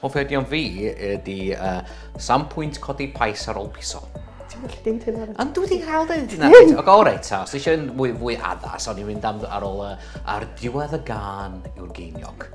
Offerdion fi ydy uh, sam pwynt codi pais ar ôl piso. Ti'n gallu deud hynna? Ond dwi wedi cael deud hynna. O, go, reit, ta. Os eisiau fwy, fwy addas, o'n i'n mynd am, ar ôl uh, ar diwedd y gan yw'r geiniog.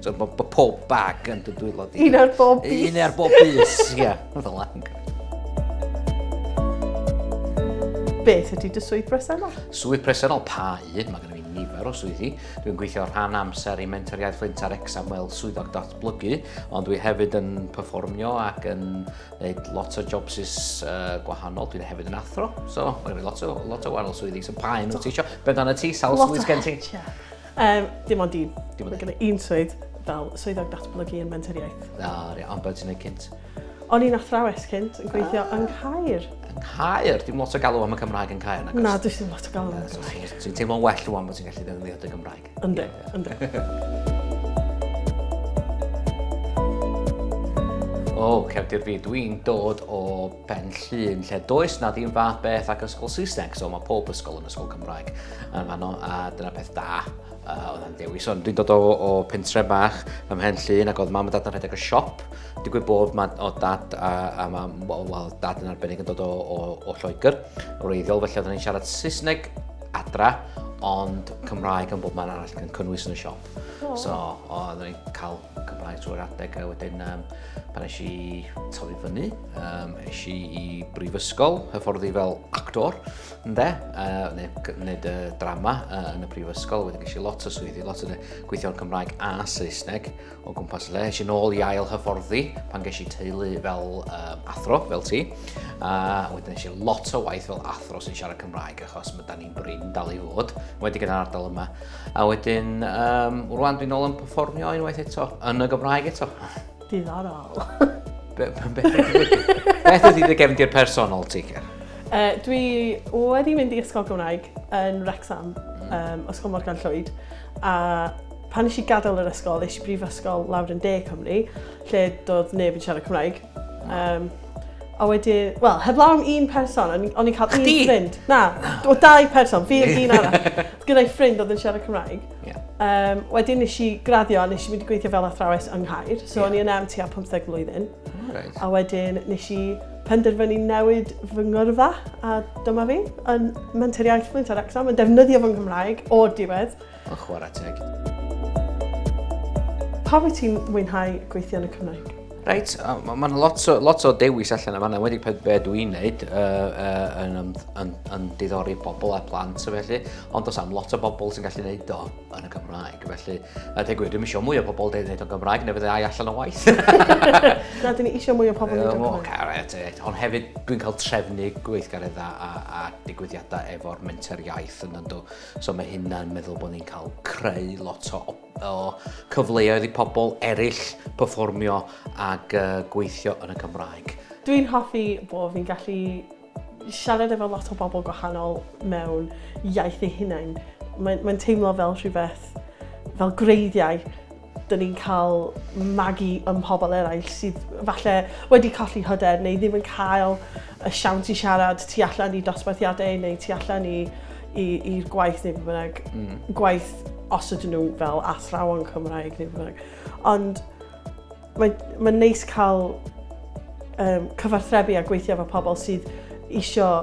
So, bo, bo pob bag yn dy dwylo di. Un ar bob bus. Un ar bob bus, ia. Fel lang. Beth ydy dy swydd bresennol? Swydd bresennol, pa un? Mae gennym ni nifer o swyddi. Dwi'n gweithio rhan amser i Mentor Iaith Flint ar Exam fel swyddog datblygu, ond dwi hefyd yn performio ac yn gwneud lot o jobs is uh, gwahanol. Dwi'n hefyd yn athro, so mae gennym ni lot o, lot o wahanol swyddi. So pa un wyt ti eisiau? Beth dan y ti? Sawl swydd gen ti? Lot o Um, dim ond un. Dim ond un. un swydd fel swyddog datblygu yn menteriaeth. Na, re, ond beth ti'n ei cynt? O'n i'n athrawes cynt yn gweithio ah. yng Caer. Yng Caer? Dim lot o galw am y Cymraeg yn Caer, nagos? Na, dwi ddim lot o galw am y Cymraeg. Dwi'n teimlo'n well rwan bod ti'n gallu ddefnyddio dy Gymraeg. Ynddo, ynddo. O, cefndir fi, dwi'n dod o Pen Llŷn, lle does na ddim fath beth ac ysgol Saesneg, so mae pob ysgol yn ysgol Cymraeg yn fanno, a dyna peth da uh, oedd yn dewis. Ond dwi'n dod o, o pentre bach ym Mhen Llŷn ac oedd mam a dad yn rhedeg y siop. Digwydd bod ma, o dad a, a mam, wel, dad yn arbennig yn dod o, o, o Lloegr, o reiddiol, felly oedden ni'n siarad Saesneg adra, ond Cymraeg yn bob man arall yn cynnwys yn y siop. Oh. So, oedden ni'n cael Cymraeg drwy'r adeg a wedyn um, pan eisiau i tyfu fyny, um, eisiau i brifysgol, hyfforddi fel actor, ynddo, uh, neu wneud y drama uh, yn y prifysgol, wedyn eisiau lot o swyddi, lot o gweithio yn Cymraeg a Saesneg o gwmpas le. Eisiau nôl i ail hyfforddi pan ges i teulu fel um, athro, fel ti, a uh, wedyn eisiau lot o waith fel athro sy'n siarad Cymraeg achos mae da ni'n brin dal i fod, wedi gyda'r ardal yma. A wedyn, um, rwan dwi'n ôl yn performio unwaith eto, yn y Gymraeg eto. Diddorol. Beth ydy dy gefndir personol ti, Ger? Uh, dwi wedi mynd i ysgol Gymraeg yn Wrexham, um, Ysgol Morgan Llwyd, a pan nes i gadael yr ysgol, nes i brifysgol lawr yn De Cymru, lle doedd neb yn siarad Cymraeg. Um, A wedi, wel, heblaw am un person, o'n i'n cael un ffrind. Na, o dau person, fi oedd un arall. Oedd gyda'i ffrind oedd yn siarad Cymraeg. Yeah. Um, wedyn nes i graddio a nes i mynd i gweithio fel athrawes yng Nghaer. So yeah. o'n i yn am tua 15 mlynedd. Right. A wedyn nes i penderfynu newid fy ngyrfa a dyma fi yn menter iaith Flinta Rexham yn defnyddio fy Nghymraeg o'r diwedd. Ond chwarae teg. Pa wyt ti'n mwynhau gweithio yn y Cymraeg? Reit, mae'n lot, o, lot o dewis allan yma, wedi peth be dwi i'n neud uh, uh, yn, yn, yn, yn diddori pobl a plant o felly, ond os am lot o bobl sy'n gallu neud o yn y Gymraeg, felly, a deg gwir, dwi'n eisiau mwy o pobl dweud neud o'n Gymraeg, neu fydde ai allan o waith. Na, dwi'n eisiau mwy o pobl neud o'n Gymraeg. Caret, e. ond hefyd dwi'n cael trefnu gweithgareddau a, a digwyddiadau efo'r menter iaith yn ynddo. So mae hynna'n meddwl bod ni'n cael creu lot o, o cyfleoedd i pobl eraill performio ac uh, gweithio yn y Cymraeg. Dwi'n hoffi bod fi'n gallu siarad efo lot o bobl gwahanol mewn iaith ei hunain. Mae'n mae teimlo fel rhywbeth, fel greiddiau Dyn ni'n cael magu ym mhobl eraill sydd falle wedi colli hyder neu ddim yn cael y siawns i siarad tu allan i dosbarthiadau neu tu allan i'r gwaith neu beth bynnag. Mm. Gwaith os ydyn nhw fel athrawon Cymraeg neu beth bynnag. Ond mae'n ma neis cael um, cyfarthrebu a gweithio efo pobl sydd eisiau